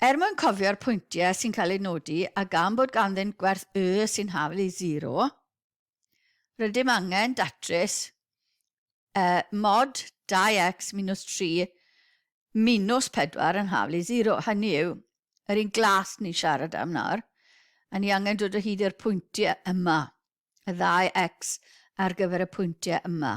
Er mwyn cofio'r pwyntiau sy'n cael eu nodi a gan bod ganddynt gwerth y sy'n hafl i zero, rydym angen datrys y mod 2x minus 3 minus 4 yn hafl i zero. Hynny yw, yr un glas ni'n siarad am nawr, a ni angen dod o hyd i'r pwyntiau yma, y ddau x ar gyfer y pwyntiau yma.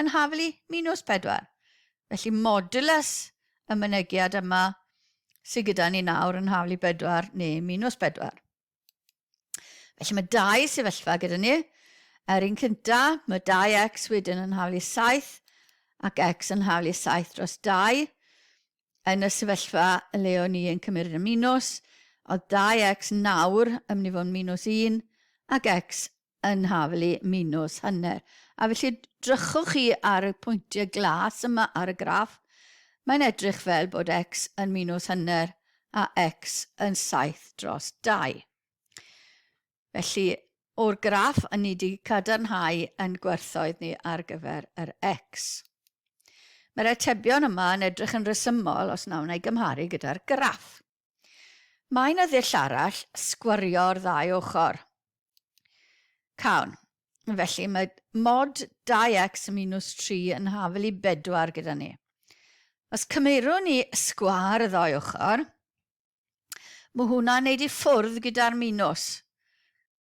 yn haflu minws pedwar. Felly modulus y mynegiad yma sydd gyda ni nawr yn haflu bedwar neu minws bedwar. Felly mae dau sefyllfa gyda ni. Yr un cynta, mae 2x wedyn yn haflu 7 ac x yn haflu 7 dros 2. Yn y sefyllfa le o'n i yn cymryd y minws, oedd 2x nawr yn mynd i fod yn minws 1 ac x yn hafal i minws hanner. A felly, drychwch chi ar y pwyntiau glas yma ar y graff, mae'n edrych fel bod x yn minws hanner a x yn 7 dros 2. Felly, o'r graff, yn ni wedi cadarnhau yn gwerthoedd ni ar gyfer yr x. Mae'r atebion yma yn edrych yn resymol os na wna i gymharu gyda'r graff. Mae yna ddull arall sgwrio'r ddau ochr. Cawn. Felly mae mod 2x minus 3 yn hafel i 4 gyda ni. Os cymeirwn ni sgwar y ddau ochr, mae hwnna'n neud i ffwrdd gyda'r minws.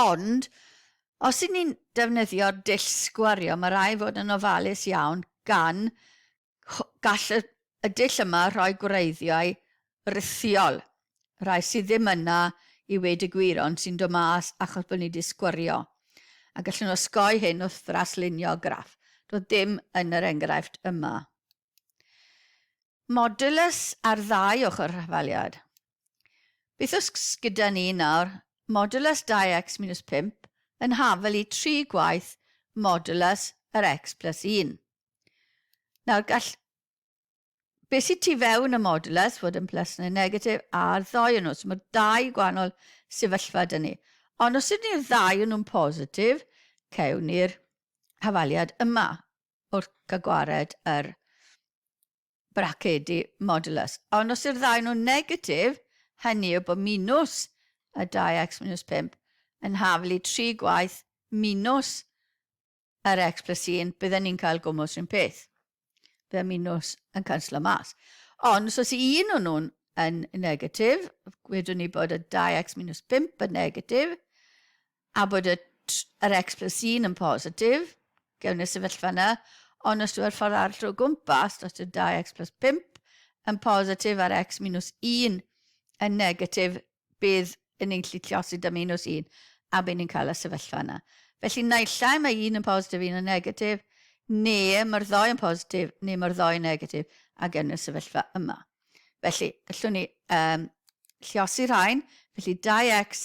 Ond, os ydyn ni'n defnyddio'r dull sgwario, mae rhaid fod yn ofalus iawn gan gall y, y dull yma rhoi gwreiddiau rithiol, rhai sydd ddim yna i weud y gwir ond sy'n dod mas achos bod ni wedi sgwario. A gallwn osgoi hyn wrth ddraslunio graff. Doedd dim yn yr enghraifft yma. Modulus ar ddau ochr y rhafaliad. Beth os gyda ni nawr modulus 2x minus 5 yn hafel i 3 gwaith modulus yr x plus 1. Nawr gall be sydd tu fewn y modulus fod yn plus neu negatif a'r ddau yn nhw. So mae dau gwahanol sefyllfa dyn ni. Ond os ydyn ni'r ddau yn nhw'n positif, cawn ni'r hafaliad yma. wrth gael gwared ar bracedi modulus. Ond os yw'r ddau nhw'n negatif, hynny yw bod minws y 2x minws 5 yn haflu 3 gwaith minws yr x plus 1, bydden ni'n cael gwmws rhywun peth. Bydde minws yn canslo mas. Ond os oes un o'n nhw'n yn negatif, gwedwn ni bod y 2x minws 5 yn negatif, A bod y tr- yr X plus un yn positif, gewn ni'r sefyllfa yna, ond os yw'r ffordd arall o gwmpas, os yw'r 2x plus 5 yn positif a'r x minus 1 yn negatif, bydd yn ni'n gallu triosi 'da minus 1, a by' ni'n cael y sefyllfa yna. Felly, naill ai mae un yn positif, un yn negatif, neu mae'r ddou yn positif, neu mae'r ddou yn negatif, a gewn ni'r sefyllfa yma. Felly, gallwn ni um, lliosi rhain, felly 2x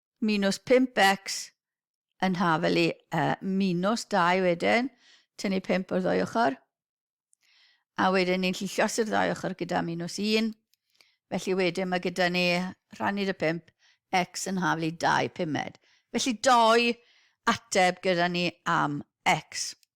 Minus 5x yn haf fel i uh, minus 2 wedyn, tynnu 5 o'r ddwy ochr. A wedyn ni'n lli llosur ddwy ochr gyda minus 1. Felly wedyn mae gyda ni rhannu dy 5 x yn haf fel i 2 pumed. Felly doi ateb gyda ni am x.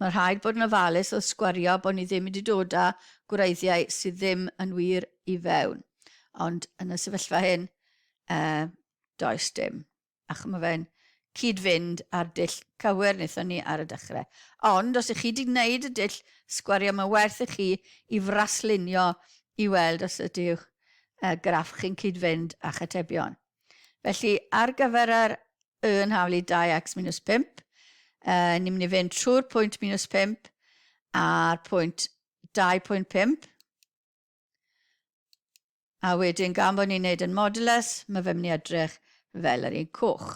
Mae rhaid bod yn ofalus wrth sgwario bod ni ddim wedi dod â gwreiddiau sydd ddim yn wir i fewn. Ond yn y sefyllfa hyn, uh, does dim. Ac mae fe'n cyd-fynd â'r dull cywir wnaethon ni ar y dechrau. Ond os ych chi wedi gwneud y dull sgwario, mae werth i chi i fraslunio i weld os ydych uh, graff chi'n cyd-fynd â chatebion. Felly, ar gyfer yr y yn hawl i 2x minus 5, uh, ni'n mynd i fynd trwy'r pwynt minus 5 a'r pwynt 2.5. A wedyn, gan bod ni'n neud yn modulus, mae fe mynd i edrych fel yr un coch.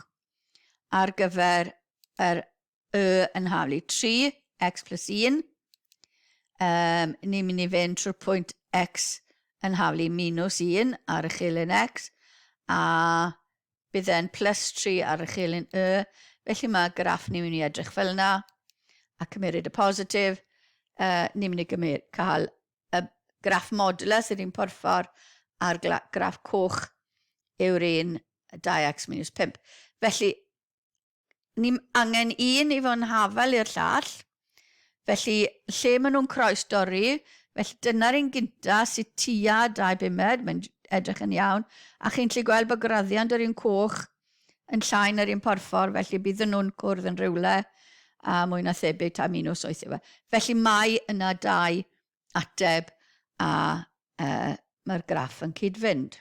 Ar gyfer yr y yn haflu 3, x plus 1. Um, ni'n mynd i fynd trwy'r pwynt x yn haflu minus 1 ar y chilyn x, a bydd e'n plus 3 ar y chilyn y. Felly mae graff ni'n mynd i edrych fel yna, a cymeriad y positif, uh, ni'n mynd i gymryd, cael y graff modulus yr un porffor a'r graff coch yw'r un 2x minus 5. Felly, ni angen un i fod yn hafal i'r llall, felly lle maen nhw'n croes dorri, felly dyna'r un gynta sy tua dau bumed, mae'n edrych yn iawn, a chi'n gallu gweld bod graddiant yr un coch yn llai na'r un porffor, felly bydden nhw'n cwrdd yn rhywle a mwy na thebyg ta mi nhw soethio fe. Felly mae yna dau ateb a uh, mae'r graff yn cyd-fynd.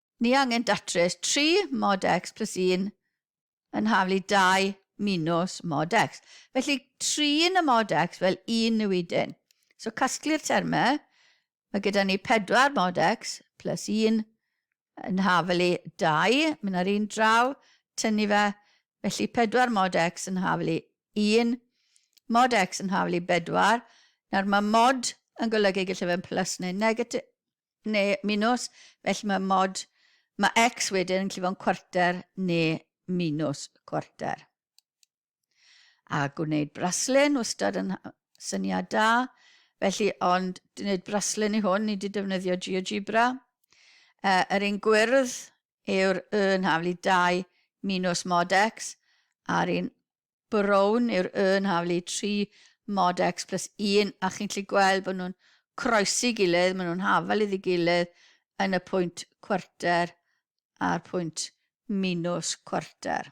Ni angen datrys 3 mod x plus 1 yn haflu 2 minws mod x. Felly, trin y mod x fel un newidyn. So, casglu'r termau. Mae gyda ni 4 mod x plus 1 yn haflu 2, mynd ar un draw, tynnu fe, felly 4 mod x yn haflu 1, mod x yn haflu bedwar. Nawr, mae mod yn golygu gallai fe'n plus neu negatif, neu minws, felly mae mod mae x wedyn yn gallu fod yn cwarter neu minws cwarter. A gwneud braslun, wastad yn syniad da, felly ond gwneud braslun i hwn, ni wedi defnyddio GeoGebra. E, yr un gwyrdd yw'r y yn haflu 2 minws mod x, a'r un brown yw'r urn haflu, tri modex plus un, a chi'n gallu gweld bod nhw'n croesi gilydd, maen nhw'n hafal iddi gilydd yn y pwynt cwarter a'r pwynt minws cwarter.